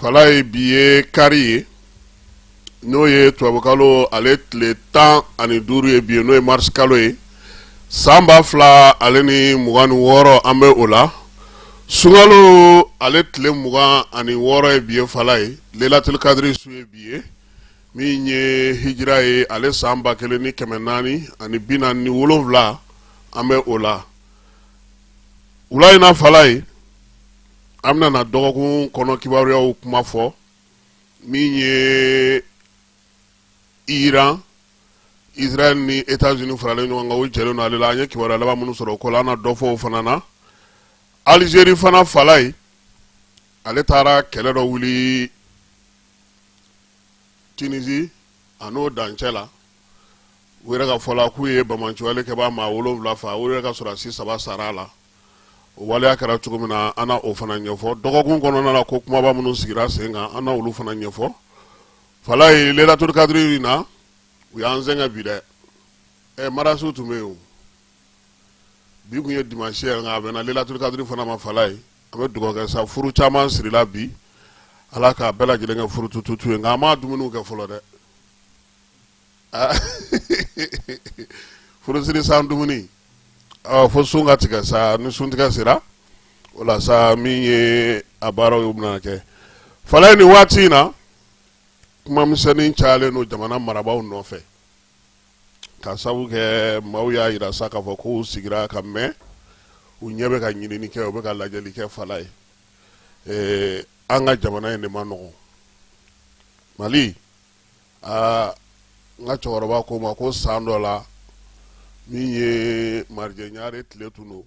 falaye bi ye kari ye n'o ye tubabukalo ale tile tan ani duuru ye bi ye n'o ye marisikalo ye san ba fila ale ni mugan ni wɔɔrɔ an bɛ o la sunkalo ale tile mugan ani wɔɔrɔ ye bi ye falaye lelatuli kadiri su ye bi ye min ye hijira ye ale san ba kelen ni kɛmɛ naani ani bi naani ni wolonwula an bɛ o la wula in na falaye an bɛna dɔgɔkun kɔnɔ kibaruyaw kuma fɔ min ye iran israel ni etats unis faralen ɲɔgɔn kan o jɛlen ale la an ye kibaruya laban minnu sɔrɔ o ko la an na dɔ fɔ o fana na algérie fana falaye ale taara kɛlɛ dɔ wuli tunisie a n'o dancɛ la u yɛrɛ ka fɔ la k'u ye banbaanciwale kɛbaa maa wolonwula fa u yɛrɛ ka sɔrɔdasi saba sara a la waleya kɛra cogo min na an na o fana ɲɛfɔ dɔgɔkun kɔnɔna na ko kumaba minnu sigira sen kan an na olu fana ɲɛfɔ falaye lelaturukadiri in na u y'an sɛgɛn bi dɛ ɛ marasiw tun bɛ yen bi kun ye dimansi ye nka a bɛnna lelaturukadiri fana ma falaye an bɛ dugawu kɛ sa furu caman sirila bi ala k'a bɛɛ lajɛlen kɛ furutututu ye nka an m'a dumuniw kɛ fɔlɔ dɛ aa furusiri san dumuni ɔ fo sun ka tigɛ sa ni sun tigɛ sera o la sa min ye a baaraw ye o bɛna kɛ falaye nin waati in na kuma misɛnnin cayalen don jamana marabaaw nɔfɛ ka sabu kɛ maaw y'a yira sa k'a fɔ k'u sigira ka mɛn u ɲɛ bɛ ka ɲinini kɛ u bɛ ka lajɛli kɛ falaye ee, an ka jamana in de man nɔgɔn mali aa n ka cɛkɔrɔba ko n ma ko san dɔ la min ye marijɛ ɲare tile tun don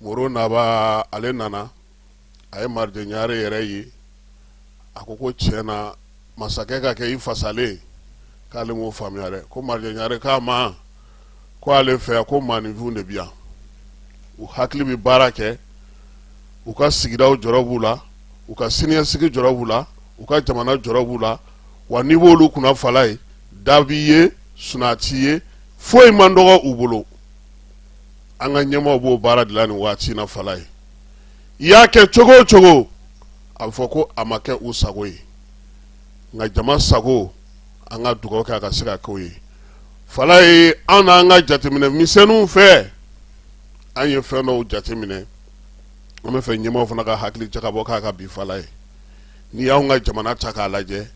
moro naba ale nana a ye marijɛ ɲare yɛrɛ ye a ko ko tiɲɛ na masakɛ ka kɛ i fasalen k'ale m'o faamuya dɛ ko marijɛ ɲare k'a ma ko ale fɛ yan ko maaninfinw de bi yan u hakili bɛ baara kɛ u ka sigidaw jɔrɔ b'u la u ka siniɲɛsigi jɔrɔ b'u la u ka jamana jɔrɔ b'u la wa n'i b'olu kunna falaye da b'i ye suna t'i ye foyi man dɔgɔ u bolo an ka ɲɛmaaw b'o baara de la nin waati in na falaye i y'a kɛ cogo o cogo a bɛ fɔ ko a ma kɛ u sago ye nka jama sago an ka dugawu kɛ a ka se ka kɛ ye falaye an n'an ka jateminɛ misɛnw fɛ an ye fɛn dɔw jateminɛ an bɛ fɛ ɲɛmaaw fana ka hakili jakabɔ k'a kan bi falaye n'i y'an ka jamana ta k'a lajɛ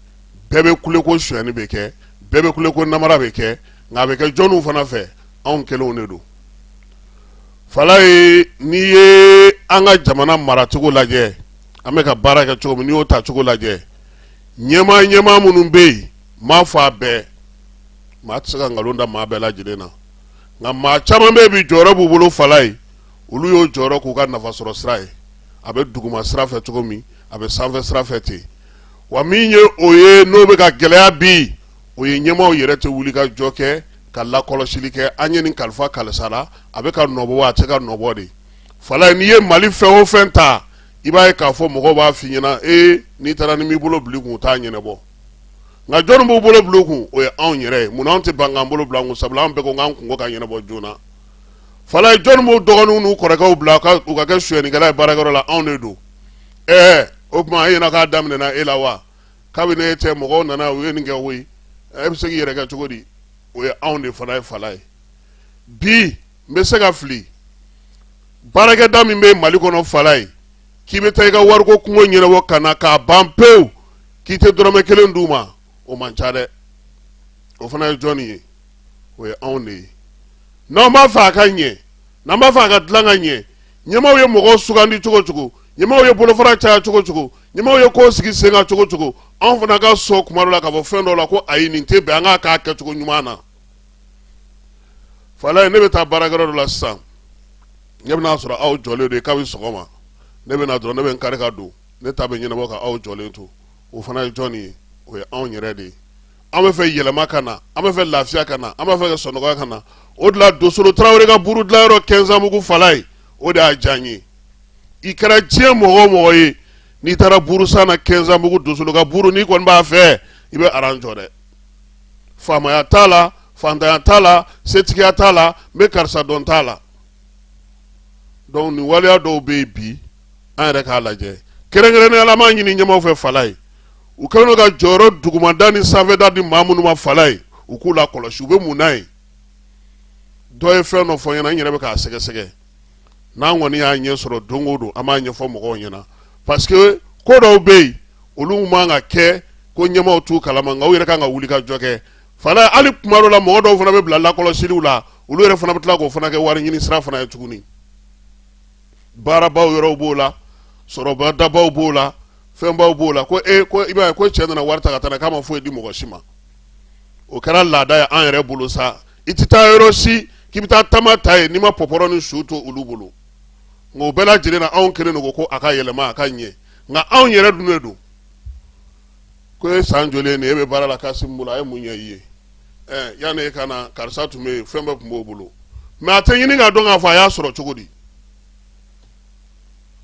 bɛɛ bɛ kule ko sonyɛni bɛ kɛ bɛɛ bɛ kule ko namara bɛ kɛ nka a bɛ kɛ jɔnw fana fɛ anw kelenw de don falaye n'i ye an ka jamana maracogo lajɛ an bɛ ka baara kɛ cogo min n'i y'o ta cogo lajɛ ɲɛmaa ɲɛmaa minnu bɛ yen m'a fɔ a bɛɛ maa tɛ se ka nkalon da maa bɛɛ lajɛlen na nka maa caman bɛ bi jɔyɔrɔ b'u bolo falaye olu y'o jɔyɔrɔ k'u ka nafasɔrɔ sira ye a bɛ duguma sira fɛ cogo min a bɛ sanfɛ sira fɛ ten wa min ye o ye n'o bɛ ka gɛlɛya bi o ye ɲɛmaaw yɛrɛ tɛ wuli ka jɔ kɛ ka lakɔlɔsili kɛ an ye nin kalifa kalisa la a bɛ k'a nɔbɔ wa a tɛ k'a nɔbɔ de falaye n'i ye mali fɛn o fɛn ta i b'a ye k'a fɔ mɔgɔw b'a f'i ɲɛna ee n'i taara n'i m'i bolo bil'u kun u t'a ɲɛnabɔ nka jɔnni b'u bolo bil'u kun o ye anw yɛrɛ ye munna anw tɛ ban k'an bolo bila kun sabula an bɛɛ ko k'an kunko ka ɲɛnabɔ joona falaye jɔnni b'u dɔgɔninw n'u kɔrɔkɛw bila u ka kɛ sonyɛnikɛla ye baarakɛyɔrɔ la anw de don ɛɛ o tuma e ɲɛna k'a daminɛna e la wa kabini e tɛ mɔgɔw nana u ye nin kɛ o ye e bɛ se k'i yɛrɛ kɛ cogo di o ye anw de fana ye falaye bi n bɛ se ka fili baarakɛda min bɛ mali kɔnɔ falaye k'i bɛ taa i ka wariko kungo ɲɛnabɔ ka na k'a ban pewu k'i tɛ dɔrɔmɛ kelen d'u ma o man ca dɛ o fana ye jɔnni ye o ye anw de ye n'an b'a fɛ a ka ɲɛ n'an b'a fɛ a ka dilan ka ɲɛ ɲɛmaaw ye mɔgɔw sugandi cogo o cogo ɲɛmaaw ye bolofara caya cogo o cogo ɲɛmaaw ye ko sigi sen kan cogo o cogo anw fana ka sɔn kuma dɔ la k'a fɔ fɛn dɔ la ko ayi nin tɛ bɛn an k'a k'a kɛcogo ɲuman na falaye ne bɛ taa baarakɛyɔrɔ dɔ la sisan ne bɛn'a sɔrɔ aw jɔlen de kabini sɔgɔma ne bɛ na dɔrɔn ne bɛ n kari ka don ne ta bɛ ɲɛnabɔ ka aw jɔlen to o fana ye jɔn ye o ye anw yɛrɛ de ye an bɛ fɛ yɛlɛma ka na an bɛ fɛ lafiya ka na an b'a fɛ ka sɔnɔgɔya ka na o de la dosolo tarawele ka buru dilayɔrɔ kɛnzanbugu falaye o de y'a diya n ye i kɛra diɲɛ mɔgɔ o mɔgɔ ye n'i taara burusan na kɛnzanbugu dosolo ka buru n'i kɔni b'a fɛ i bɛ aran jɔ dɛ faamaya t'a la faantanya t'a la setigiya t'a la n bɛ karisa dɔn t'a la donc nin waleya dɔw bɛ yen bi an yɛrɛ k'a lajɛ kɛrɛnkɛrɛnnenya la an b'a ɲini ɲɛmaaw fɛ falaye u kɛlen don ka jɔyɔrɔ dugumada ni sanfɛda di maa minnu ma falaye u k'u lakɔlɔsi u bɛ mun na yen dɔ ye fɛn dɔ fɔ n ɲɛna n yɛrɛ bɛ k'a sɛgɛsɛgɛ n'an kɔni y'a ɲɛ sɔrɔ don o don an b'a ɲɛfɔ mɔgɔw ɲɛna parce que ko dɔw bɛ yen olu man ka kɛ ko ɲɛmaaw t'u kalama nka u yɛrɛ kan ka wuli ka jɔ kɛ Falaye hali kuma dɔw la mɔgɔ dɔw fana bɛ bila lakɔlɔsiliw la olu yɛrɛ fana bɛ tila k'o fana kɛ wari ɲini sira fana ye tuguni baarabaw yɔrɔw b'o la sɔrɔba dabaw b'o la fɛnbaw b'o la ko e ko i b'a ye ko cɛ nana wari ta ka taa k'a ma foyi di mɔgɔ si ma o kɛra laada ye an yɛrɛ bolo sa i tɛ taa yɔrɔ si k'i bɛ taa tama ta yen n'i ma pɔpɔrɔ ni su to olu bolo nka o bɛɛ lajɛlen na anw kelen don ko a ka yɛlɛma a ka ɲɛ nka anw yɛrɛ dun de don ko e san joli nin e bɛ baara la Kasimu bolo a ye mun ɲɛ i ye ɛɛ yanni e ka na karisa tun bɛ yen fɛn bɛɛ tun b'o bolo mais a tɛ ɲini k'a dɔn k'a fɔ a y'a sɔrɔ cogo di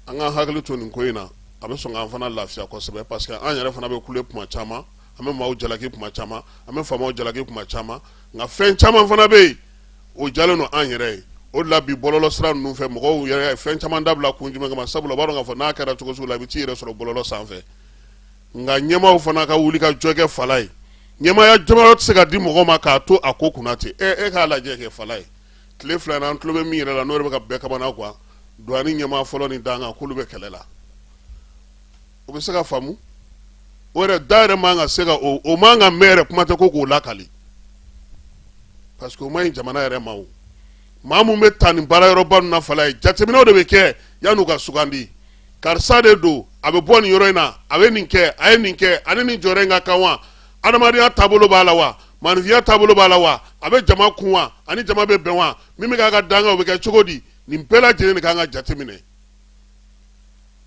an k'an hakili to nin ko in na a bɛ sɔn k'an fana lafiya kosɛbɛ parce que an yɛrɛ fana bɛ kule tuma caman an bɛ maaw jalaki kuma caman an bɛ faamaw jalaki kuma caman nka fɛn caman fana bɛ yen o jalen don an yɛrɛ ye o la bi bɔlɔlɔ sira ninnu fɛ mɔgɔw yɛrɛ ye fɛn caman dabila kun jumɛn kama sabula u b'a dɔn k'a fɔ n'a kɛra cogo sugu la i bɛ t'i yɛrɛ sɔrɔ bɔlɔlɔ sanfɛ nka ɲɛmaaw fana ka wuli ka jɔ kɛ Falaye ɲɛmaaya jɔyɔrɔ tɛ se ka di mɔgɔ ma k'a to a ko kunna ten e e k'a lajɛ kɛ Falaye tile fila in na an tulo bɛ min yɛrɛ la n'o bɛ ka bɛɛ kamana gan douane ɲɛmaa fɔlɔ ni dankan k'olu bɛ kɛlɛ la o bɛ se ka faamu o yɛrɛ da yɛrɛ man ka se ka o man ka mɛn yɛrɛ kuma tɛ ko k'o lakali parce que o man ɲi jamana yɛrɛ ma o maa min bɛ ta nin baara yɔrɔba ninnu na Falaye jateminɛw de bɛ kɛ yan'u ka sugandi karisa de don a bɛ bɔ nin yɔrɔ in na a bɛ nin kɛ a ye nin kɛ a ni nin jɔyɔrɔ in ka kan wa adamadenya taabolo b'a la wa maaninfinya taabolo b'a la wa a bɛ jama kun wa a ni jama bɛ bɛn wa min bɛ k'a ka dankan o bɛ kɛ cogo di nin bɛɛ lajɛlen de kan ka jateminɛ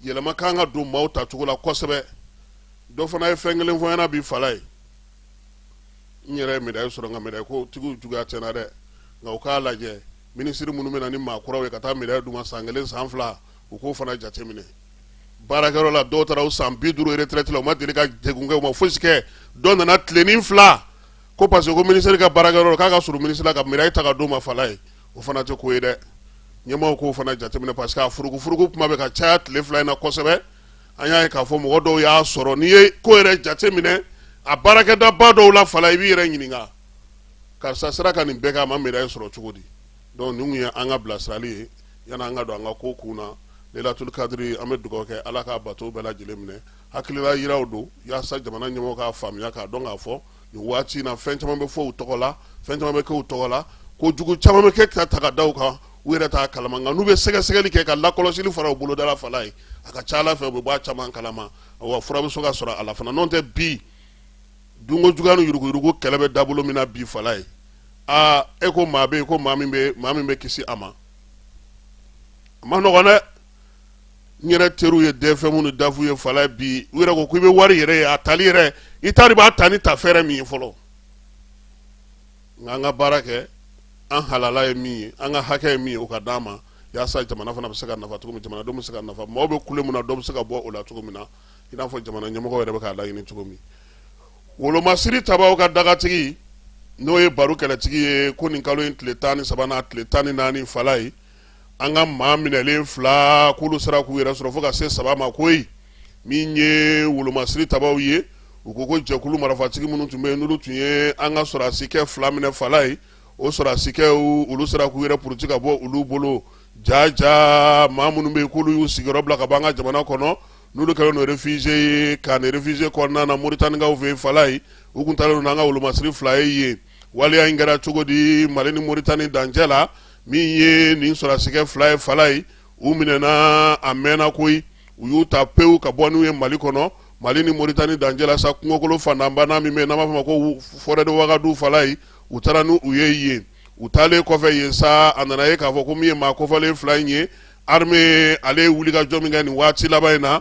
yɛlɛma kan ka don maaw ta cogo la kosɛbɛ dɔ fana ye fɛn kelen fɔ n ɲɛna bi Falaye n yɛrɛ ma médaille sɔrɔ nka médaille ko tigiw juguya tɛ n na dɛ nka u k'a lajɛ minisiri minnu bɛ na ni maa kuraw ye ka taa médaille d'u ma san kelen san fila u k'o fana jateminɛ baarakɛyɔrɔ la dɔw taara u san bi duuru retraite la u ma deli ka degun kɛ u ma foyisi kɛ dɔ nana tilenin fila ko parce que ko minisiri ka baarakɛyɔrɔ k'a ka surun minisiri la ka médaille ta ka d'o ma Falaye o fana tɛ ko ye dɛ ɲɛmaaw k'o fana jateminɛ parce que a furugufurugu kuma bɛ ka caya tile fila in na kosɛbɛ an y'a ye k'a fɔ mɔgɔ dɔw y'a sɔrɔ n'i ye ko yɛrɛ jateminɛ a baarakɛdaba dɔw la Falaye i b'i yɛrɛ ɲininka karisa sera ka nin bɛɛ kɛ a ma médaille sɔrɔ cogo di donc nin tun ye an ka bilasirali ye yanni an ka don an ka ko kun na Lailatul kadiri an bɛ dugawu kɛ Ala ka bato bɛɛ lajɛlen minɛ hakilila yiraw don yaasa jamana ɲɛmɔgɔ k'a faamuya k'a dɔn k'a fɔ nin waati in na fɛn caman bɛ fɔ u tɔgɔ la fɛn caman bɛ kɛ u tɔgɔ la kojugu caman bɛ kɛ k'a ta k'a da u kan u yɛrɛ t'a kalama nka n'u bɛ sɛgɛsɛgɛli kɛ ka lakɔlɔsili fara u boloda la falaye a ka ca ala fɛ u bɛ bɔ a caman kalama wa fura bɛ se ka sɔrɔ a la fana n'o tɛ bi dunkojuguya ni yuruguyurugu kɛlɛ bɛ dabolo min na bi falaye aa e ko maa bɛ ko maa min bɛ kisi a ma a ma nɔgɔ dɛ n yɛrɛ teriw ye dfm ni daf ye falaye bi u yɛrɛ ko ko i bɛ wari yɛrɛ ye a tali yɛrɛ i t'a dɔn i b'a ta ni tafɛɛrɛ min ye fɔlɔ nka an ka baara kɛ an halala ye min ye an ka hakɛ ye min ye o ka d'an ma walasa jamana fana bɛ se ka nafa cogo min jamanadenw bɛ se ka nafa maaw bɛ kule min na dɔ bɛ se ka bɔ o la cogo min na i n'a fɔ jamana ɲɛmɔgɔ yɛrɛ bɛ k'a laɲini cogo min wolomasiri tabaw ka dagatigi n'o ye baro kɛlɛtigi ye ko nin kalo in tile tan ni saba n'a tile tan ni naani falaye an ka maa minɛlen fila k'olu sera k'u yɛrɛ sɔrɔ fo ka se saba ma koyi min ye wolomasiri tabaw ye u ko ko jɛkulu marifatigi minnu tun bɛ yen n'olu tun ye an ka sɔrɔdasikɛ fila minɛ falaye o sɔrɔdasikɛ olu sera k'u yɛrɛ puruti ka bɔ olu bolo jaja maa minnu bɛ yen k'olu y'u sigiyɔrɔ bila ka bɔ an ka jamana kɔnɔ n'olu kɛlen don réfugié ye camp réfugié kɔnɔna na moritanikaw fɛ falaye u kun taalen don n'an ka wolomasiri fila ye yen waleya in kɛra cogo di mali ni moritani dancɛ la min ye nin sɔrɔdasikɛ fila ye falaye u minɛna a mɛnna koyi u y'u ta pewu ka bɔ n'u ye mali kɔnɔ mali ni moritani dancɛ la sa kungokolo fantanbana min bɛ n'an b'a fɔ ma ko forêt de wagadu falaye u taara n'u ye yen u taalen kɔfɛ yen sa a nana ye k'a fɔ ko min ye maa kofɔlen fila in ye armée ale ye wulikajɔ min kɛ nin waati laban in na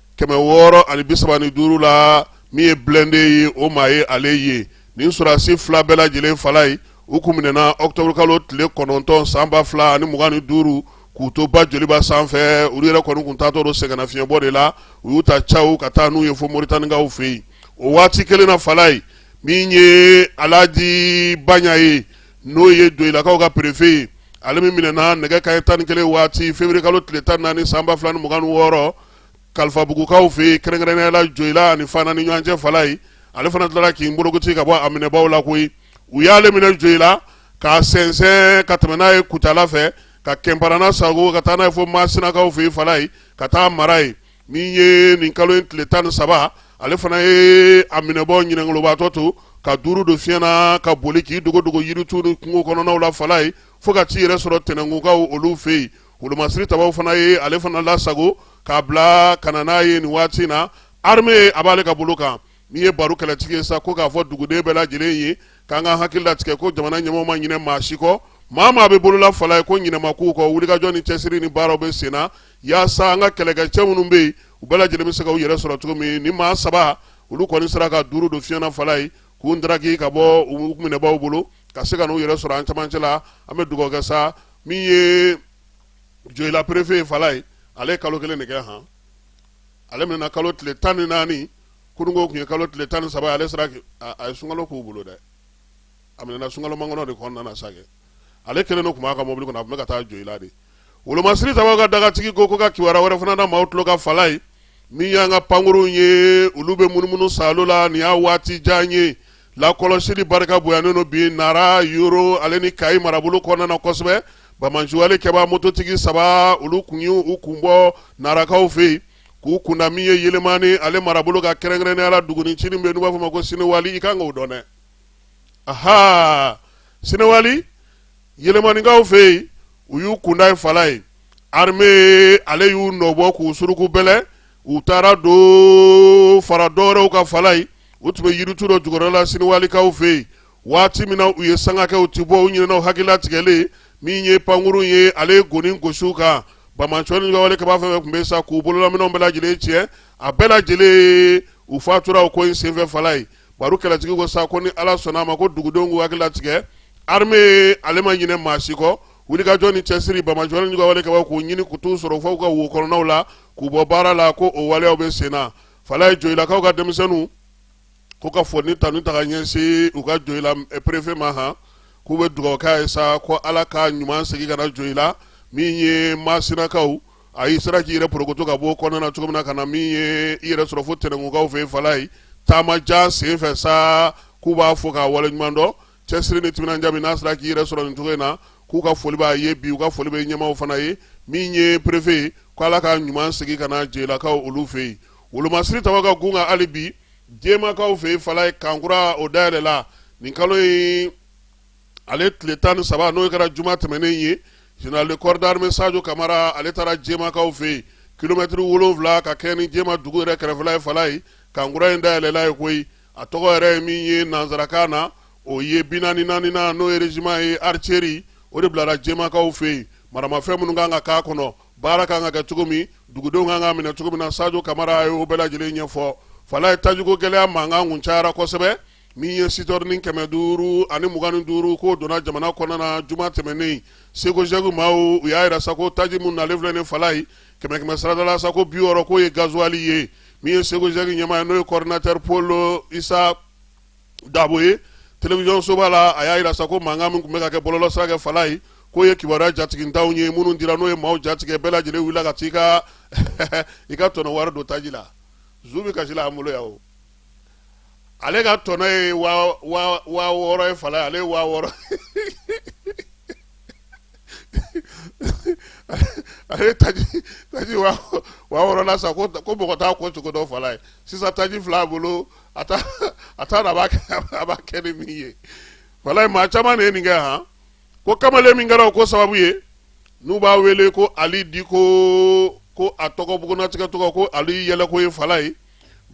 kɛmɛ wɔɔrɔ ani bi saba ni duuru la min ye blindé ye o maa ye ale ye nin sɔrɔdasi fila bɛɛ lajɛlen falaye u kun minɛna octobre kalo tile kɔnɔntɔn san ba fila ani mugan ni duuru k'u to ba joliba sanfɛ olu yɛrɛ kɔni kun taatɔ don sɛgɛnnafiɲɛbɔ de la u y'u ta cawu ka taa n'u ye fo moritanikaw fɛ yen o waati kelen na falaye min ye alaji baɲa ye n'o ye doyilakaw ka perefe ye ale min minɛna nɛgɛ kanɲɛ tan ni kelen waati février kalo tile tan ni naani san ba fila ni mugan ni wɔɔrɔ kalifabugukaw fɛ yen kɛrɛnkɛrɛnnenya la joyila ani fana ni ɲɔgɔn cɛ falaye ale fana tilara k'i bolokoci ka bɔ a minɛbaw la koyi u y'ale minɛ joyila k'a sɛnsɛn ka tɛmɛ n'a ye kutala fɛ ka kɛnparana sagon ka taa n'a ye fo masinakaw fɛ yen falaye ka t'a mara yen min ye nin kalo in tile tan ni saba ale fana ye a minɛbaw ɲinɛnkolobaatɔ to ka duuru don fiɲɛ na ka boli k'i dogodogo yiritu ni kungo kɔnɔnaw la falaye fo ka t'i yɛrɛ sɔrɔ tɛnɛnkunkaw olu fɛ yen wolomasiri tabaw fana ye ale fana lasago k'a bila ka na n'a ye nin waati na arme a b'ale ka bolo kan min ye baro kɛlɛtigi ye sa ko k'a fɔ duguden bɛɛ lajɛlen ye k'an ka hakili latigɛ ko jamana ɲɛmɔgɔw ma ɲinɛ maa si kɔ maa maa bɛ bolola fala ye ko ɲinɛ ma k'u kɔ wulikajɔ ni cɛsiri ni baaraw bɛ sen na yaasa an ka kɛlɛkɛcɛ minnu bɛ yen u bɛɛ lajɛlen bɛ se ka u yɛrɛ sɔrɔ cogo min ni maa saba olu kɔni sera ka duuru don fiɲɛ na fala ye k'u daraki ka bɔ u minɛbaaw bolo ka se ka n'u yɛrɛ sɔrɔ an camancɛ la an bɛ dugawu kɛ sa min ye joyila perefe ye fala ye ale ye kalo kelen de kɛ han ale minɛna kalo tile tan ni naani kununko tun ye kalo tile tan ni saba ale sera a ye sunkalo k'u bolo dɛ a minɛna sunkalo mankɔnɔ de kɔnɔna na sa kɛ ale kelen de tun b'a ka mobili kɔnɔ a tun bɛ ka taa joyila de wolomasiri tabaw ka dagatigi ko ko ka kibaruya wɛrɛ fana da maaw tulo ka fala ye min y'an ka pankurunw ye olu bɛ munumunu salo la nin y'a waati jan ye lakɔlɔsili barika bonyalen don bi nara yoro ale ni kayi marabolo kɔnɔna na kosɛbɛ banbaanci juguwalekɛba mototigi saba olu kun y'u kun bɔ narakaw fɛ yen k'u kunda min ye yelemani ale marabolo ka kɛrɛnkɛrɛnnenya la duguni cini bɛ yen n'u b'a fɔ ma ko sinewali i kan k'o dɔn dɛ aha sinewali yelemanikaw fɛ yen u y'u kunda yen fala ye arme ale y'u nɔbɔ k'u suruku bɛlɛ u taara don fara dɔwɛrɛw ka fala ye u tun bɛ yiritu dɔ jukɔrɔla sinewalikaw fɛ yen waati min na u ye sanga kɛ u tɛ bɔ u ɲinɛna u hakili latigɛlen min ye pankurun ye ale ye goni gosi u kan banbaanci juguwalekɛba fɛn fɛn tun bɛ sa k'u bololaminɛnw bɛɛ lajɛlen tiɲɛ a bɛɛ lajɛlen u fatura ko in senfɛ fala ye baro kɛlɛtigi ko sa ko ni ala sɔnna a ma ko dugudenw k'u hakili latigɛ arme ale ma ɲinɛ maa si kɔ wulikajɔ ni cɛsiri banbaanci juguwalekɛbaw k'u ɲini k'u t'u sɔrɔ fo u ka wo kɔnɔnaw la k'u bɔ baara la ko o waleyaw bɛ sen na fala ye joyilakaw ka denmisɛnninw ko ka foli tanuni ta ka ɲɛsin u ka joyila perefe ma han k'u bɛ dugawu k'a ye sa ko ala k'a ɲuman segin ka na joyila min ye masinakaw a y'i sera k'i yɛrɛ porokoto ka bɔ kɔnɔna na cogo min na ka na min ye i yɛrɛ sɔrɔ fo tɛnɛnkukaw fɛ fala ye taama jan senfɛ sa k'u b'a fɔ k'a waleɲuman dɔn cɛsiri ni timinanja min n'a sera k'i yɛrɛ sɔrɔ nin cogo in na k'u ka foli b'a ye bi u ka foli bɛ ɲɛmaaw fana ye min ye perefe ye ko ala k'a ɲuman segin ka na joyilakaw olu fɛ yen wolomasiri tabaw ka gun kan hali bi jemakaw fɛ yen fala ye kan kura o dayɛlɛla nin kalo in ale tile tan ni saba n'o kɛra juma tɛmɛnen ye général de corps d'armée sajo kamara ale taara jemakaw fɛ yen kilomɛtiri wolonwula ka kɛ ni jema dugu yɛrɛ kɛrɛfɛla ye fala ye kan kura in dayɛlɛla ye koyi a tɔgɔ yɛrɛ ye min ye nanzarakan na o ye bi naani ni naaninan n'o ye régiment ye artillerie o de bilara jɛmakaw fɛ yen maramafɛn minnu kan ka k'a kɔnɔ baara kan ka kɛ cogo min dugudenw kan ka minɛ cogo min na sajo kamara a ye o bɛɛ lajɛlen ɲɛfɔ falayi tajiko gɛlɛya mankan tun cayara kosɛbɛ min ye sitɛrini kɛmɛ duuru ani mugan ni duuru k'o donna jamana kɔnɔna na juma tɛmɛnnen sekozɛki maaw u y'a yira sa ko taji minnu nalen filɛ nin falayi kɛmɛkɛmɛ sarada la sa ko bi wɔɔrɔ k'o ye gazuwali ye min ye sekozɛki ɲɛmaa ye n'o ye coordinateur pɔli isa dabo ye telewisɔn soba la a y'a yira sa ko mankan min tun bɛ ka kɛ bɔlɔlɔ sira kɛ falayi k'o ye kibaruya jatigintanw ye minnu dira n'o ye maaw jatigɛ bɛɛ lajɛlen wulila ka t'i ka i ka tɔnɔ wari don taji la zu bɛ kasi la an bolo yan o ale ka tɔnɔ ye waa waa waa wɔɔrɔ ye falayi ale ye waa wɔɔrɔ ale ye taji taji waa wɔ- waa wɔɔrɔ la sa ko ko mɔgɔ t'a ko cogo dɔn falayi sisan taji filɛ a bolo a t'a a t'a dɔn a b'a kɛ a b'a kɛ ni min ye falayi maa caman de ye nin kɛ han ko kamalen min kɛra o ko sababu ye n'u b'a wele ko ali diko ko a tɔgɔ bugunnatigɛ tɔgɔ ko ali yɛlɛko ye falayi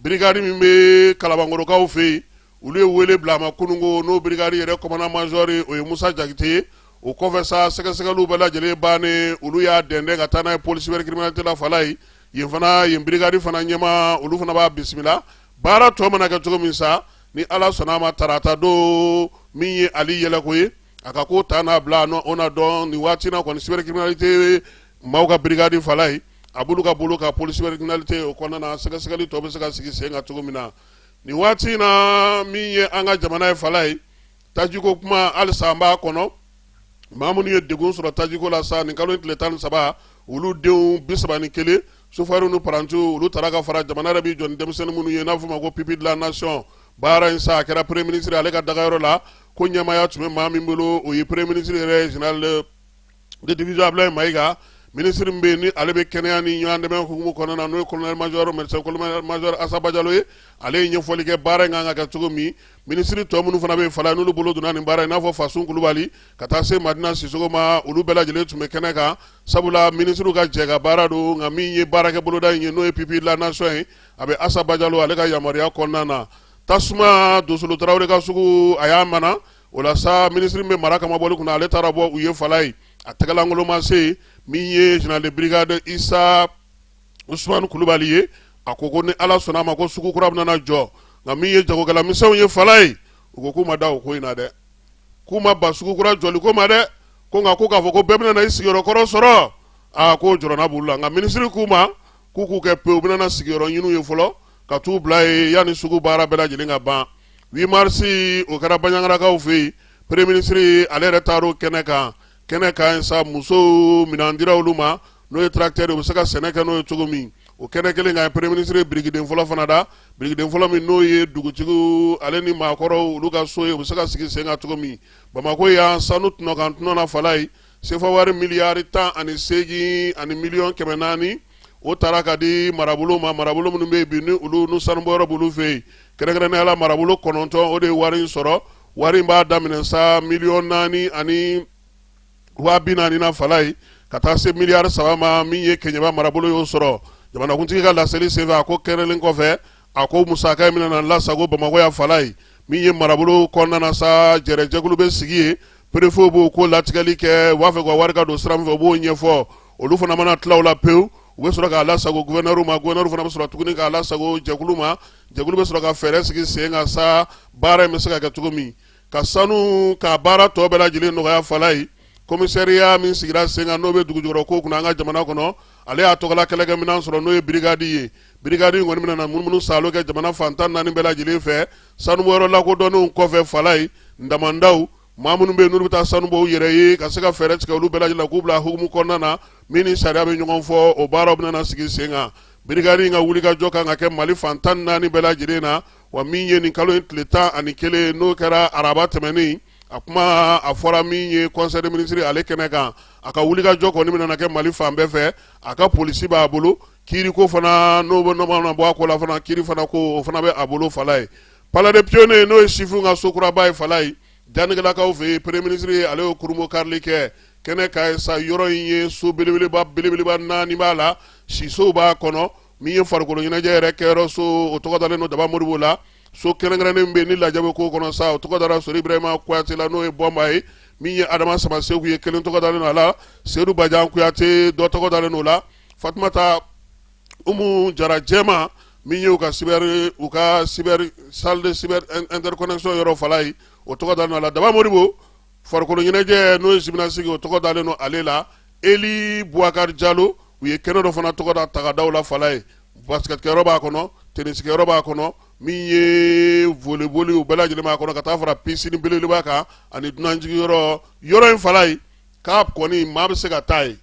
Birigadi min bɛ kalabankɔrɔkaw fɛ yen olu ye wele bila a ma kunun ko n'o birigadi yɛrɛ kɔmandan mazɔri o ye musa jakite o kɔfɛ sa sɛgɛsɛgɛli bɛɛ lajɛlen bannen olu y'a dɛndɛ ka taa n'a ye pôle cybercriminalité la falayi yen fana yen birigadi fana ɲɛmaa olu fana b'a bisimila baara tɔ mana kɛ cogo min sa ni ala sɔnna a ma tarata don min ye ali yɛlɛko ye a ka ko ta n'a bila o na dɔn nin waati na kɔni cybercriminalité Maaw ka brigade Falayi, a b'olu ka bolo kan pôle cybercriminalité o kɔnɔna na sɛgɛsɛgɛli tɔ bɛ se ka sigi sen kan cogo min na. Nin waati in na min ye an ka jamana ye Falayi, tajiko kuma halisa an b'a kɔnɔ. Maa minnu ye degun sɔrɔ tajiko la sa nin kalo in tile tan ni saba, olu denw bi saba ni kelen sofɛriw ni parantiw olu tara ka fara. Jamana yɛrɛ b'i jɔ ni denmisɛnnin minnu ye n'a bɛ f'o ma ko pupille de la nation baara in sa a kɛra premier ministre ale ka dagayɔrɔ la. Ko ɲɛmaaya tun bɛ maa min bolo o ye premier ministre yɛrɛ ye general de division ablaye mayiga minisiri min bɛ yen ni ale bɛ kɛnɛya ni ɲɔgɔn dɛmɛ hukumu kɔnɔna na n'o ye colonel major médecin colonel major asa bajalo ye ale ye ɲɛfɔli kɛ baara in kan ka kɛ cogo min minisiri tɔ minnu fana bɛ yen fala n'olu bolo donna nin baara in n'a fɔ fasun kulubali ka taa se madina sisoko ma olu bɛɛ lajɛlen tun bɛ kɛnɛ kan sabula minisiriw ka jɛ ka baara don nka min ye baarakɛ boloda in ye n'o ye pupille de la nation ye a bɛ asa bajalo ale ka yamaruya kɔnɔna na tasuma dosolo tarawele ka sugu a y'a mana o la sa minisiri min bɛ mara kama bɔli kunna ale taara bɔ u ye fala ye a tɛgɛlankolon ma se min ye général de brigade isa usumani kulubali ye a ko ko ni ala sɔnna a ma ko sugu kura bɛna jɔ nka min ye jagokɛlamisɛnw ye fala ye u ko k'u ma da o ko in na dɛ k'u ma ban sugu kura jɔli ko ma dɛ ko nka ko k'a fɔ ko bɛɛ bɛna i sigiyɔrɔ kɔrɔ sɔrɔ aa k'o jɔrɔna b'u la nka minisiri k'u ma k'u k'u kɛ pewu u bɛna sigiyɔrɔ ɲin'u ye fɔlɔ ka t'u bila ye yanni sugu baara bɛɛ lajɛlen ka ban 8 mars o kɛra baɲagarakaw fɛ yen premier ministre ale yɛrɛ taara o kɛnɛ kan kɛnɛ kan sa musow minɛn dira olu ma n'o ye tracteur u bɛ se ka sɛnɛ kɛ n'o ye cogo min o kɛnɛ kelen kan premier ministre ye birikiden fɔlɔ fana da birikiden fɔlɔ min n'o ye dugutigiw ale ni maakɔrɔw olu ka so ye u bɛ se ka sigi sen kan cogo min bamakɔ yan sanu tɔnɔ kan tɔnɔ na fala ye sefa wari miliyari tan ani seegin ani miliyɔn kɛmɛ naani o taara ka di marabolo ma marabolo minnu bɛ yen bi ni olu n'u sanubɔyɔrɔ b'olu fɛ yen kɛrɛnkɛrɛnnenya la marabolo kɔnɔntɔn o de ye wari in sɔrɔ wari in b'a daminɛ sa miliyɔn naani ani waa bi naani na fala ye ka taa se miliyari saba ma min ye keɲeba marabolo y'o sɔrɔ jamanakuntigi ka laseli senfɛ a ko kɛrɛnlen kɔfɛ a ko musaka in bɛna lasago bamakɔ yan fala ye min ye marabolo kɔnɔna na sa jɛrɛjɛkulu bɛ sigi yen perefe b'o ko latigɛli kɛ u b'a fɛ ka wari ka don sira min fɛ u b'o ɲɛfɔ olu fana mana tila o la pewu u bɛ sɔrɔ k'a lasago gouverneur ma gouverneur fana bɛ sɔrɔ tuguni k'a lasago jɛkulu ma jɛkulu bɛ sɔrɔ ka fɛɛrɛ sigi sen kan sa baara in bɛ se ka kɛ cogo min ka sanu ka baara tɔ bɛɛ lajɛlen nɔgɔya fala ye kɔmisɛriya min sigira sen kan n'o bɛ dugujukɔrɔ ko kunna an ka jamana kɔnɔ ale y'a tɔgɔla kɛlɛkɛminɛn sɔrɔ n'o ye brigade ye Brigade kɔni bɛna na munumunu saalo kɛ jamana fan tan naani bɛɛ lajɛlen fɛ sanubɔyɔrɔ lakodɔnnenw kɔfɛ fala ye damandaw maa minnu bɛ yen n'u bɛ taa sanu bɔ u yɛrɛ ye ka se ka fɛɛrɛ tigɛ olu bɛɛ lajɛlen k'u bila hukumu kɔnɔna na min ni sariya bɛ ɲɔgɔn fɔ o baaraw bɛna sigi sen kan brigade ka wuli ka jɔ kan ka kɛ mali fan tan naani bɛɛ lajɛlen na wa min ye nin kalo in tile tan ani kelen n'o kɛra araba tɛmɛnen a kuma a fɔra min ye conseil des ministres ale kɛnɛ kan a ka wuli ka jɔ kɔni bɛna kɛ mali fan bɛɛ fɛ a ka polisi b'a bolo kiiri ko fana n'o bɛ bɔ a ko la fana kiiri fana ko o fana bɛ a bolo fala ye palais des pionniers n'o ye sifinw ka sokuraba ye fala ye janɛgɛlakaw fɛ yen premier ministre ale y'o kurunbonkarili kɛ kɛnɛ kan yen sa yɔrɔ in ye so belebeleba naani b'a la sisow b'a kɔnɔ min ye farikolo ɲɛnajɛ yɛrɛ kɛyɔrɔ so o tɔgɔ dalen don daba modibo la so kɛrɛnkɛrɛnnen bɛ yen ni lajɛ bɛ k'o kɔnɔ sa o tɔgɔ dara sori ibrahima kuyate la n'o ye bɔnba ye min ye adama samaseku ye kelen tɔgɔ dalen don a la sedu bajan kuyate dɔ tɔgɔ dalen don o la fatumata umu jara jɛma min ye u ka cyber salle de cyber interconnexion yɔrɔ fala ye o tɔgɔ dalen don a la daba modibo farikolo ɲɛnajɛ n'o ye gymnastique o tɔgɔ dalen don ale la eli buwakari jalo u ye kɛnɛ dɔ fana tɔgɔ da tagadaw la fala ye basketkɛyɔrɔ b'a kɔnɔ tenisikɛyɔrɔ b'a kɔnɔ min ye voleboli u bɛɛ lajɛlen b'a kɔnɔ ka taa fara pisini belebeleba kan ani dunanjigiyɔrɔ yɔrɔ in fala ye k'a kɔni maa bɛ se ka taa yen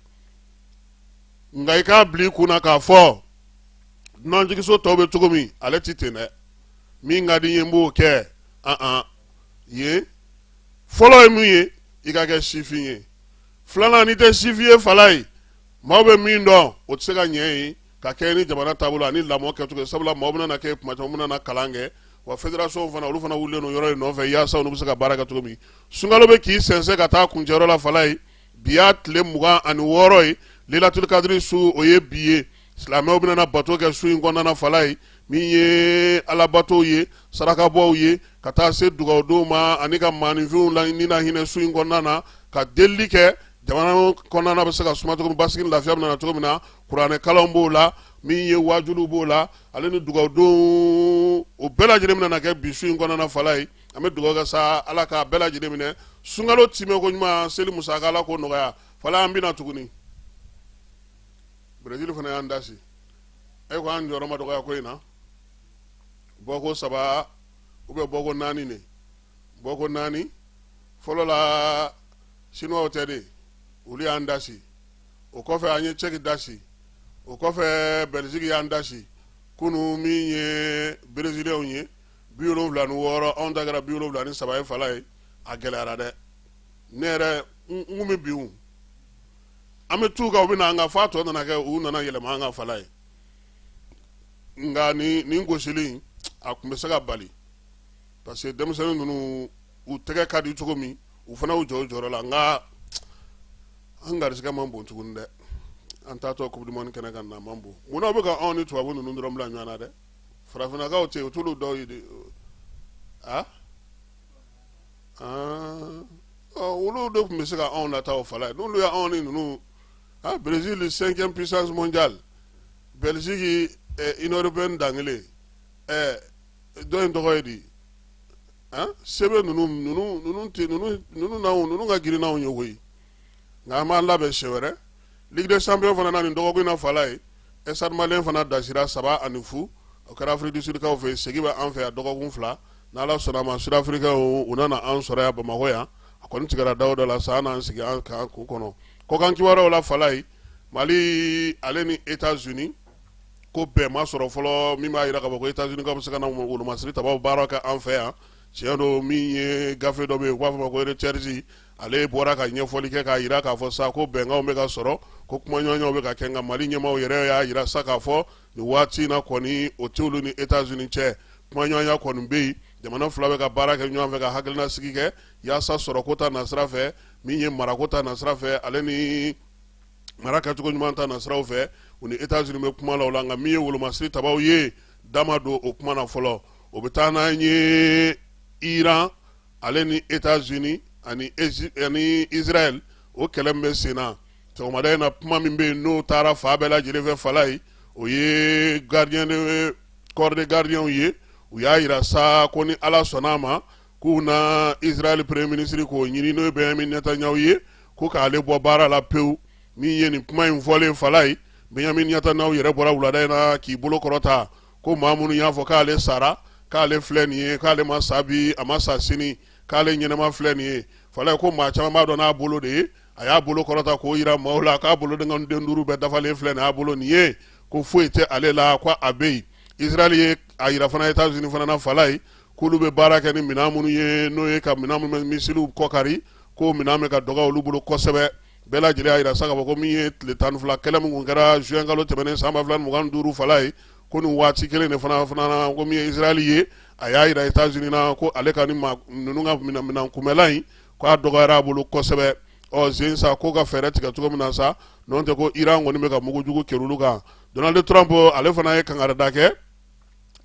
nka i k'a bila i kun na k'a fɔ dunanjigiso tɔw bɛ cogo min ale tɛ ten dɛ min ka di n ye n b'o kɛ yen fɔlɔ ye min ye i ka kɛ sifin ye filanan n'i tɛ sifin ye fala ye maaw bɛ min dɔn o tɛ se ka ɲɛ yen ka kɛɲɛ ni jamana taabolo ani lamɔ kɛcogo sabula maaw bɛna kɛ kuma caman bɛna kalan kɛ wa federasɔnw fana olu fana wulilen don yɔrɔ in nɔfɛ yaasa olu bɛ se ka baara kɛ cogo min sunkalo bɛ k'i sɛnsɛn ka taa kuncɛyɔrɔ la fala ye bi y'a tile mugan ani wɔɔrɔ ye lelatuli kadiri su o ye bi ye silamɛw bɛna bato kɛ su in kɔnɔna fala ye min ye alabatow ye sarakabɔw ye ka taa se dugawudonw ma ani ka maaninfinw la ni na hinɛ su in kɔnɔna na ka delili kɛ jamana kɔnɔna bɛ se ka suma cogo min basigi ni lafiya bɛna na cogo min na kuranɛ kalanw b'o la min ye wajuliw b'o la ale ni dugawudonw o bɛɛ lajɛlen bɛna kɛ bi su in kɔnɔna fala ye an bɛ dugawu kɛ sa ala k'a bɛɛ lajɛlen minɛ sunkalo tɛmɛ koɲuman seli musaka ala k'o nɔgɔya fala an binna tuguni berezili fana y'an dasi e ko an jɔyɔrɔ ma dɔgɔya ko in na bɔko saba ou bien bɔko naani de bɔko naani fɔlɔ la sinuwaw tɛ de olu y'an dasi o kɔfɛ an ye cɛki dasi o kɔfɛ bɛliziki y'an dasi kunu min ye bereziliyɛnw ye bi wolonwula ni wɔɔrɔ anw ta kɛra bi wolonwula ni saba ye fala ye a gɛlɛyara dɛ ne yɛrɛ n kun bɛ bin an bɛ t'u kan u bɛ na an kan f'a tɔ nana kɛ u nana yɛlɛma an kan fala ye nka nin nin gosili a tun bɛ se ka bali parce que denmisɛnnin ninnu u tɛgɛ ka di cogo min u fana y'u jɔ u jɔyɔrɔ la nka an garisɛgɛ man bon tuguni dɛ an taatɔ coupe du monde kɛnɛ kan na man bon munna u bɛ ka anw ni tubabu ninnu dɔrɔn bila ɲɔgɔn na dɛ farafinnakaw tɛ yen u t'olu dɔw ye de a olu de tun bɛ se ka anw nata o fala ye n'olu ye anw ni ninnu a Brésil cinquième puissance mondiale Belgique Union européenne dankelen ɛ dɔ in tɔgɔ ye di an sebe ninnu ninnu ninnu tɛ ninnu ninnu n'anw ninnu ka girin n'anw ye koyi nka an b'an labɛn siɲɛ wɛrɛ ligue des champions fana na nin dɔgɔkun in na fala ye stade malien fana dasira saba ani fu o kɛra afrique du sudkaw fɛ segi bɛ an fɛ yan dɔgɔkun fila n'ala sɔnna ma sudafirikaw u nana an sɔrɔ yan bamakɔ yan a kɔni tigɛra daw dɔ la sa an n'an sigi an kan k'u kɔnɔ kɔkan kibaruyaw la fala ye mali ale ni etats unis ko bɛn ma sɔrɔ fɔlɔ min b'a jira k'a fɔ ko etats unis ka bɛ se ka na wolomasiri tabaw baara kɛ an fɛ yan tiɲɛ don min ye gafe dɔ bɛ yen u b'a fɔ ma ko reuters ale bɔra ka ɲɛfɔli kɛ k'a jira k'a fɔ sa ko bɛnkanw bɛ ka sɔrɔ ko kumaɲɔgɔnyaw bɛ ka kɛ nka mali ɲɛmaaw yɛrɛ y'a jira sa k'a fɔ nin waati in na kɔni o t'olu ni etats unis cɛ kumaɲɔgɔnya kɔni bɛ yen jamana fila bɛ ka baara kɛ ɲɔgɔn fɛ ka hakilina sigi kɛ yaasa sɔrɔko ta nasira fɛ min ye marako ta nasira fɛ ale ni mara kɛcogo ɲuman ta nasiraw fɛ u ni etats unis bɛ kuma la o la nka min ye wolomasiri tabaw ye dama don o kuma na fɔlɔ o bɛ taa n'an ye iran ale ni etats unis ani israɛl o kɛlɛ min bɛ sen na sɔgɔmada in na kuma min bɛ yen n'o taara fan bɛɛ lajɛlen fɛ fala ye o ye gardien corps de gardiens ye u y'a jira sa ko ni ala sɔnna a ma k'u na israɛl premier ministre k'o ɲini n'o ye benjamin netanyahu ye ko k'ale bɔ baara la pewu min ye nin kuma in fɔlen fala ye benjamin netanyahu yɛrɛ bɔra wulada in na k'i bolo kɔrɔta ko maa minnu y'a fɔ k'ale sara k'ale filɛ nin ye k'ale ma sa bi a ma sa sini k'ale ɲɛnama filɛ nin ye fala ye ko maa caman b'a dɔn n'a bolo de ye a y'a bolo kɔrɔta k'o yira maaw la k'a bolo denkɔni den duuru bɛɛ dafalen filɛ nin y'a bolo nin ye ko foyi tɛ ale la ko a bɛ yen israɛl ye a yira fana etats unis fana na fala ye k'olu bɛ baara kɛ ni minɛn minnu ye n'o ye ka minɛn minnu bɛ misiliw kɔkari ko minɛn bɛ ka dɔgɔ olu bolo kosɛbɛ bɛɛ lajɛlen y'a jira sa k'a fɔ ko min ye tile tan ni fila kɛlɛ min tun kɛra juin kalo tɛmɛnen san ba fila ni mugan ni duuru fala ye ko nin waati kelen de fana fana na ko min ye israɛli ye a y'a jira etats unis na ko ale ka ni ninnu ka minɛn kunbɛlan in ko a dɔgɔyara a bolo kosɛbɛ urgent sa k'o ka fɛɛrɛ tigɛ cogo min na sa n'o tɛ ko iran kɔni bɛ ka mugu jugu kerun olu kan donald trump ale fana ye kangarida kɛ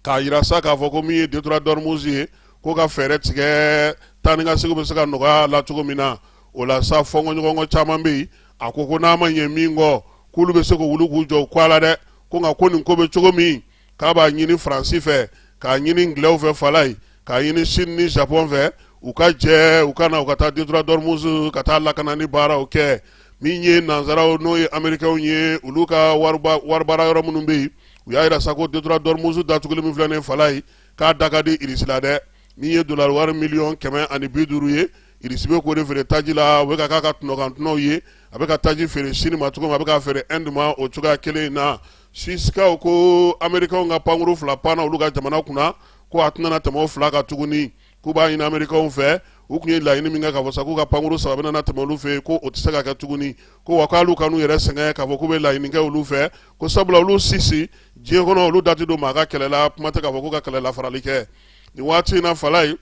k'a jira sa k'a fɔ ko min ye detroit d'ormuz ye ko ka fɛɛrɛ tigɛ taa ni ka seginw bɛ se ka nɔgɔya la cogo min na o la sa fɔnkɔɲɔgɔnkɔ caman bɛ yen a ko ko n'a ma ɲɛ min kɔ k'olu bɛ se ka wuli k'u jɔ u kɔ a la dɛ ko nka ko nin ko bɛ cogo min k'a b'a ɲini faransi fɛ k'a ɲini ngilɛw fɛ fala ye k'a ɲini sini ni japɔn fɛ u ka jɛ u ka na u ka taa detroit d'ormuz ka taa lakana ni baaraw kɛ min ye nansaraw n'o ye amerikɛw ye olu ka wari baara yɔrɔ minnu bɛ yen u y'a jira sa ko detroit d'ormuz datugulen min filɛ nin fala ye k'a da ka di irisi la dɛ min ye dolari wari miliyɔn kɛmɛ ani bi duuru ye irisi bɛ k'o de feere taji la o bɛ ka k'a ka tɔnɔkantɔnɔw ye a bɛ ka taji feere sini ma cogo min a bɛ ka feere ɛndi ma o cogoya kelen in na suisikaw ko amerikanw ka pankuru fila panna olu ka jamana kunna ko a tɛna tɛmɛ o fila kan tuguni k'u b'a ɲini amerikaw fɛ u tun ye laɲini min kɛ k'a fɔ sa k'u ka pankuru saba bɛna tɛmɛ olu fɛ yen ko o tɛ se ka kɛ tuguni ko wa k'olu kan'u yɛrɛ sɛgɛn k'a fɔ k'u bɛ laɲini kɛ olu fɛ ko sabula olu suwisi diɲɛ kɔnɔ olu da tɛ don maa ka kɛlɛ la kuma tɛ k'a fɔ k'u ka kɛlɛ la farali kɛ nin waati in na fala ye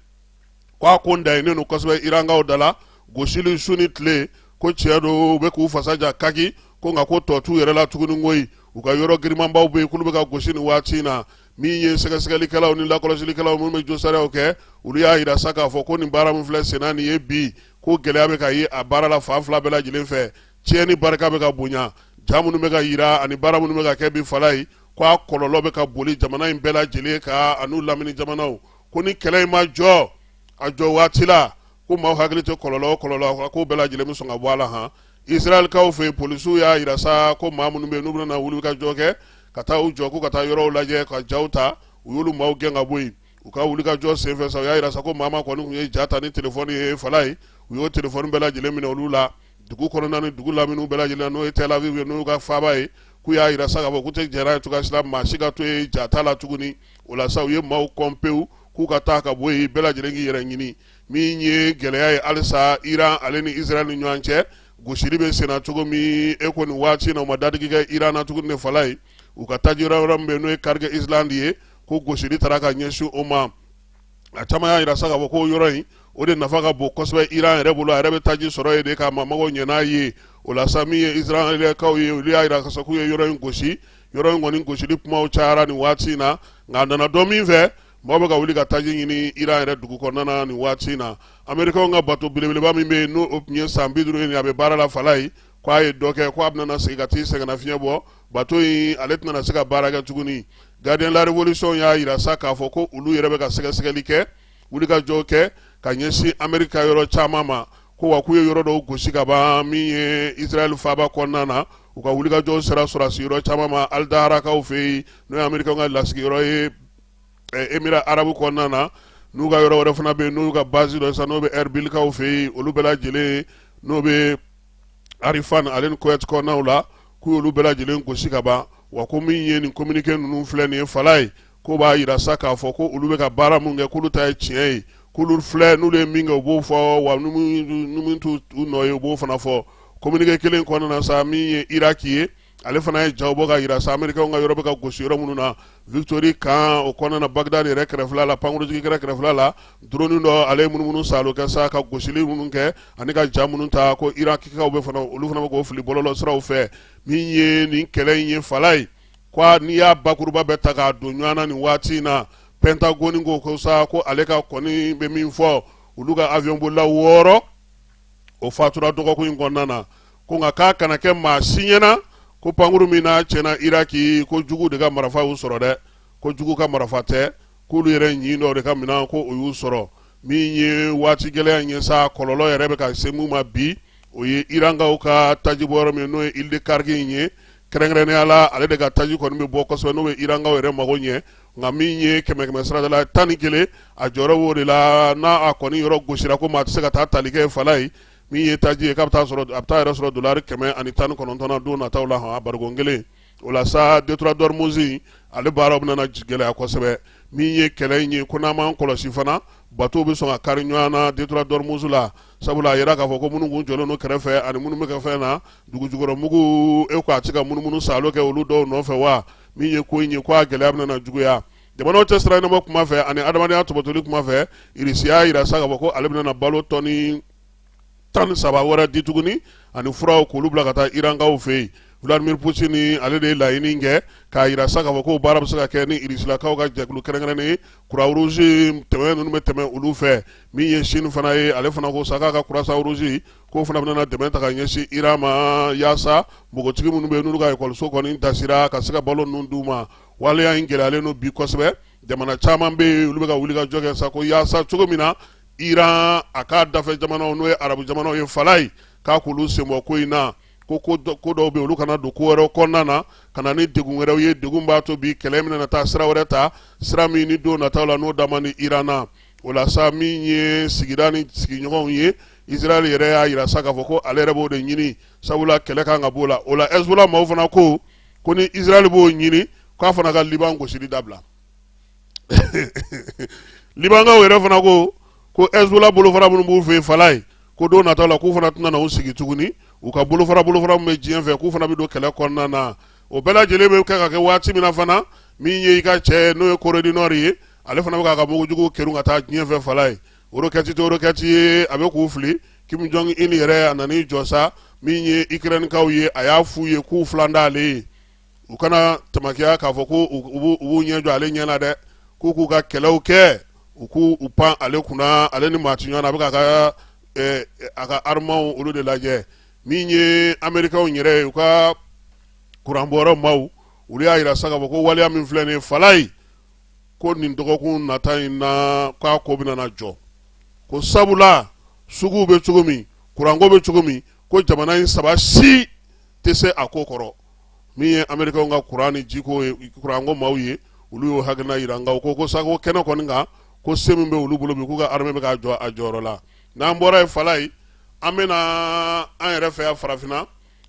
k'a ko n dayinnen don kosɛbɛ irankaw da la gosili su ni tile ko tiɲɛ don u bɛ k'u fasa ja kaki ko nka ko tɔ t'u yɛrɛ la tuguni koyi u ka yɔrɔ girimanbaw bɛ yen k'olu bɛ ka gosi nin waati in na min ye sɛgɛsɛgɛlikɛlaw ni lakɔlɔsilikɛlaw minnu bɛ josariyaw kɛ olu y'a yira sa k'a fɔ ko nin baara min filɛ senna nin ye bi ko gɛlɛya bɛ ka ye a baara la fan fila bɛɛ lajɛlen fɛ tiɲɛni barika bɛ ka bonya ja minnu bɛ ka yira ani baara minnu bɛ ka kɛ bi fala ye ko a kɔlɔlɔ bɛ ka boli jamana in bɛɛ lajɛlen kan an'u lamini jamanaw ko ni kɛlɛ in ma jɔ a jɔ waati la ko maaw hakili tɛ kɔlɔlɔ o kɔlɔlɔ ko bɛɛ lajɛlen bɛ sɔn ka bɔ a la han israɛlkaw fɛ yen polisiw y'a yira sa ko maa minnu bɛ yen n'u bɛna wulikajɔ kɛ ka taa u jɔ ko ka taa yɔrɔw lajɛ ka jaw ta u y'olu maaw gɛn ka bɔ yen u ka wulikajɔ senfɛ sa u y'a yira sa ko maa maa kɔni tun ye ja ta ni telefɔni ye fala ye u y'o telefɔni bɛɛ lajɛlen minɛ olu la dugu kɔnɔna ni dugu lamini bɛɛ lajɛlen n'o ye tel aviv ye n'u ka faaba ye k'u y'a yira sa k'a fɔ k'u tɛ jɛn n'a ye cogoya si la maa si ka to yen ja ta la tuguni o la sa u ye maaw kɔn pewu k'u ka taa ka bɔ yen bɛɛ lajɛlen k'i yɛrɛ ɲini min ye gɛlɛya ye halisa iran ale ni israɛl ni ɲɔgɔn cɛ gosili bɛ senna cogo min e ko nin waati in na u ma dadigi kɛ iran na tuguni ne fala ye u ka taji yɔrɔ yɔrɔ min bɛ n'o ye karikɛ islandi ye ko gosili taara ka ɲɛsin o ma a caman y'a yira sa k'a fɔ ko yɔrɔ in o de nafa ka bon kosɛbɛ iran yɛrɛ bolo a yɛrɛ bɛ taji sɔrɔ yen de ka maa magow ɲɛ n'a ye o la sa min ye israɛlkaw ye olu y'a yira k'a fɔ k'u ye yɔrɔ in gosi yɔrɔ in kɔni gosili kumaw cayara nin waati in na nka a nana dɔn min fɛ maaw bɛ ka wuli ka taji ɲini iran yɛrɛ dugu kɔnɔna na nin waati in na amerikanw ka bato belebeleba min bɛ yen n'o tun ye san bi duuru ye a bɛ baara la fala ye k'a ye dɔ kɛ k'a bɛna segin ka t'i sɛgɛnnafiɲɛ bɔ bato in ale tɛna se ka baara kɛ tuguni gardien la revolution y'a yira sa k'a fɔ ko olu yɛrɛ bɛ ka sɛgɛsɛgɛli kɛ wulikajɔ kɛ ka ɲɛsin ameriki ka yɔrɔ caman ma ko wa k'u ye yɔrɔ dɔw gosi ka ban min ye israɛl faaba kɔnɔna na u ka wulikajɔ sera sɔrɔdasi yɔrɔ caman ma alidaharakaw fɛ yen n'o ye amerikɛnw ka lasigiyɔrɔ ye emira arabu kɔnɔna na n'u ka yɔrɔ wɛrɛ fana bɛ yen n'u ka basi don sa n'o bɛ ɛribilikaw fɛ yen olu bɛɛ lajɛlen n'o bɛ arifan ale ni kɔyɛti kɔnɔnaw la k'u y'olu bɛɛ lajɛlen gosi ka ban wa ko min ye nin kominike ninnu filɛ nin ye fala ye k'o b'a yira sa k'a fɔ ko olu bɛ ka baara mun kɛ k'olu ta ye tiɲɛ ye k'olu filɛ n'olu ye min kɛ u b'o fɔ wa ni min t'u nɔ ye u b'o fana fɔ kominike kelen kɔnɔna na sa min ye iraki ye ale fana ye jaw bɔ ka jira sa amerikaw ka yɔrɔ bɛ ka gosi yɔrɔ minnu na victory kan o kɔnɔna na bagdad yɛrɛ kɛrɛfɛ la pankurujigi kɛnɛ kɛrɛfɛ la drone dɔ ale ye munumunu saalo kɛ sa ka gosili minnu kɛ ani ka ja minnu ta ko irankaw bɛ fana olu fana bɛ k'o fili bɔlɔlɔ siraw fɛ min ye nin kɛlɛ in ye fala ye ko n'i y'a bakuruba bɛɛ ta k'a don ɲɔgɔn na nin waati in na pentagone ko ko sa ko ale ka kɔni bɛ min fɔ olu ka avion bolila wɔɔrɔ o fatura dɔgɔkun in kɔnɔna na ko nka k'a kana kɛ maa si ɲɛna ko pankuru min na tiɲɛna iraki ko jugu de ka marifa y'u sɔrɔ dɛ ko jugu ka marifa tɛ k'olu yɛrɛ ɲin dɔ de ka minɛn ko o y'u sɔrɔ min ye waati gɛlɛya in ye sa kɔlɔlɔ yɛrɛ bɛ ka se mun ma bi o ye irankaw ka tajibɔ yɔrɔ min n'o ye île de kharg in ye kɛrɛnkɛrɛnnenya la ale de ka taji kɔni bɛ bɔ kosɛbɛ n'o bɛ irankaw yɛrɛ mago ɲɛ nka min ye kɛmɛ kɛmɛ sarada la tan ni kelen a jɔyɔrɔ b'o de la n'a a kɔni yɔrɔ gosira ko maa tɛ se ka taa tali kɛ fala ye min ye taji ye k'a bɛ taa yɛrɛ sɔrɔ dolari kɛmɛ ani tan ni kɔnɔntɔn na don nataw la hɔn a barikon kelen o la sa détroit d'ormuz ale baaraw bɛna na gɛlɛya kosɛbɛ min ye kɛlɛ in ye ko n'an m'an kɔlɔsi fana batow bɛ sɔn ka kari ɲɔgɔn na détroit d'ormuz la sabula a jira k'a fɔ ko minnu kun jɔlen don kɛrɛfɛ ani minnu bɛ kɛ fɛn na dugu jukɔrɔ mugu e ko a tɛ ka munumunu saalo kɛ olu dɔw nɔfɛ wa min ye ko in ye ko a gɛlɛya bɛna na juguya jamanaw cɛ sira ɲɛnabɔ kuma fɛ ani adamadenya tɔbɔtɔli kuma fɛ irisi y'a jira sa k'a fɔ ko ale bɛna na balo tɔni tan ni saba wɛrɛ di tuguni ani furaw k'olu bila ka taa irankaw fɛ yen vladimir putini ale de ye laɲini kɛ k'a jira sa k'a fɔ ko baara bɛ se ka kɛ ni irisilakaw ka jɛkulu kɛrɛnkɛrɛnnen ye croix rouge dɛmɛ ninnu bɛ tɛmɛ olu fɛ min ye sini fana ye ale fana ko sa k'a ka croissant rouge k'o fana bɛna na dɛmɛ ta ka ɲɛsin iran ma yaasa npogotigi minnu bɛ yen n'olu ka ekɔliso kɔni dasira ka se ka balo ninnu d'u ma waleya in gɛlɛyalen don bi kosɛbɛ jamana caman bɛ yen olu bɛ ka wuli ka jɔ kɛ sa ko yaasa cogo min na iran a ka dafɛ jamanaw n'o ye arabu jamanaw ye fala ye k'a k'olu senbɔ ko in na ko ko dɔw bɛ olu kana don ko wɛrɛw kɔnɔna na ka na ni degun wɛrɛw ye degun b'a to bi kɛlɛ min na taa sira wɛrɛ ta sira min ni don nataw la n'o dama ni iran na O la sa min ye sigida ni sigiɲɔgɔnw ye Israël yɛrɛ y'a jira sa k'a fɔ ko ale yɛrɛ b'o de ɲini sabula kɛlɛ kan ka b'o la, o la Hezbollah maaw fana ko ko ni Israël b'o ɲini k'a fana ka Liban gosili dabila Libankaw yɛrɛ fana ko ko Hezbollah bolofara minnu b'u fɛ yen Falaye ko don nataw la k'u fana tɛna na u sigi tuguni, u ka bolofara bolofara min bɛ diɲɛ fɛ k'u fana bɛ don kɛlɛ kɔnɔna na o bɛɛ lajɛlen bɛ kɛ ka kɛ waati min na fana min ye i ka cɛ n'o ye corée du nord ye ale fana bɛ k'a ka mugujugu kerun ka taa diɲɛ fɛ fala ye rokɛti tɛ rokɛti ye a bɛ k'u fili kim jong un yɛrɛ a nan'i jɔ sa min ye ukrɛnikaw ye a y'a f'u ye k'u filan t'ale ye u kana tamakiya k'a fɔ ko u b'u ɲɛ jɔ ale ɲɛ na dɛ k'u k'u ka kɛlɛw kɛ u k'u pan ale kunna ale ni maa ti ɲɔgɔn na a bɛ ka a ka armuw olu de lajɛ min ye amerikaw yɛrɛ ye u ka kuranbɔyɔrɔ maaw olu y'a yira sa k'a fɔ ko waleya min filɛ nin ye fala ye ko nin dɔgɔkun nata in na k'a ko bɛna na jɔ ko sabula suguw bɛ cogo min kuranko bɛ cogo min ko jamana in saba si tɛ se a ko kɔrɔ min ye amerikaw ka kuran ni jiko ye kuranko maaw ye olu y'o hakilina yira nka u ko ko sago kɛnɛ kɔni kan ko se min bɛ olu bolo bi k'u ka armée bɛ k'a jɔ a jɔyɔrɔ la n'an bɔra yen fala ye an bɛna an yɛrɛ fɛ yan farafinna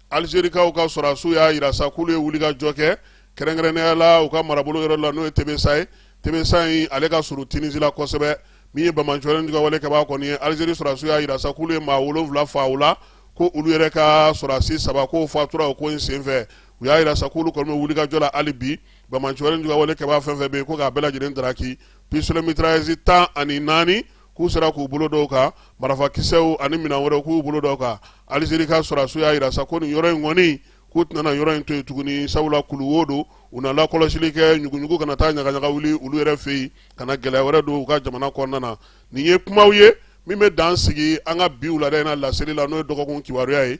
alizerikaw ka sɔrɔdasiw y'a yira sa k'olu ye wulikajɔ kɛ kɛrɛnkɛrɛnnenya la u ka marabolo yɔrɔ la n'o ye tebesa ye tebesa in ale ka surun tinisi la kosɛbɛ min ye banbaanciw ka wale kɛbaa kɔni ye alizeri sɔrɔdasiw y'a yira sa k'olu ye maa wolonwula faa u la ko olu yɛrɛ ka sɔrɔdasi saba k'o fatura o ko in senfɛ u y'a yira sa k'olu kɔni bɛ wulikajɔ la hali bi banbaanciw ka wale kɛbaa fɛn fɛn bɛ yen ko k'a bɛɛ lajɛlen traquer pistolet mitrailleuse tan ni naani k'u sera k'u bolo da o kan marafakisɛw ani minɛn wɛrɛw k'u bolo da o kan alizeri ka sɔrɔdasiw y'a yira sa ko nin yɔrɔ in kɔni k'u tɛna na yɔrɔ in to yen tuguni sabula kuluwo don u na lakɔlɔsili kɛ ɲuguɲugu kana taa ɲagaɲaga wuli olu yɛrɛ fɛ yen ka na gɛlɛya wɛrɛ don u ka jamana kɔnɔna na nin ye kumaw ye min bɛ dan sigi an ka bi wulada in na laseli la n'o ye dɔgɔkun kibaruya ye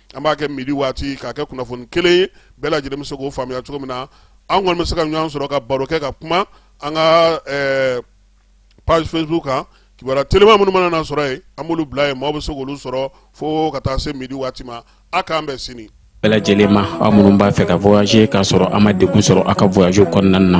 an b'a kɛ midi waati k'a kɛ kunnafoni kelen ye bɛɛ lajɛlen bɛ se k'o faamuya cogo min na an kɔni bɛ se ka ɲɔgɔn sɔrɔ ka baro kɛ ka kuma an ka ɛɛ page Facebook kan kibaruya telima minnu mana na sɔrɔ yen an b'olu bila yen maaw bɛ se k'olu sɔrɔ fo ka taa se midi waati ma a k'an bɛn sini bɛɛ lajɛlen ma aw minnu b'a fɛ ka voyager k'a sɔrɔ a ma degun sɔrɔ a ka voyage kɔnɔna na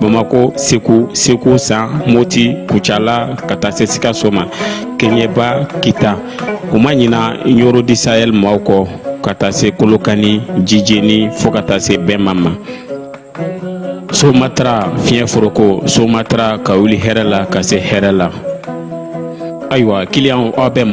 bamakɔ segu segu san moti kucala ka taa se sikaso ma keɲeba kita u ma ɲina ɲɔrɔ di sahɛl maaw kɔ ka taa se kolokani jijeni fɔɔ ka taa se bema ma somatara fiɲɛ foroko somatara ka wuli hɛrɛ la ka se hɛrɛ la ayiwa kiliyanw aw bɛ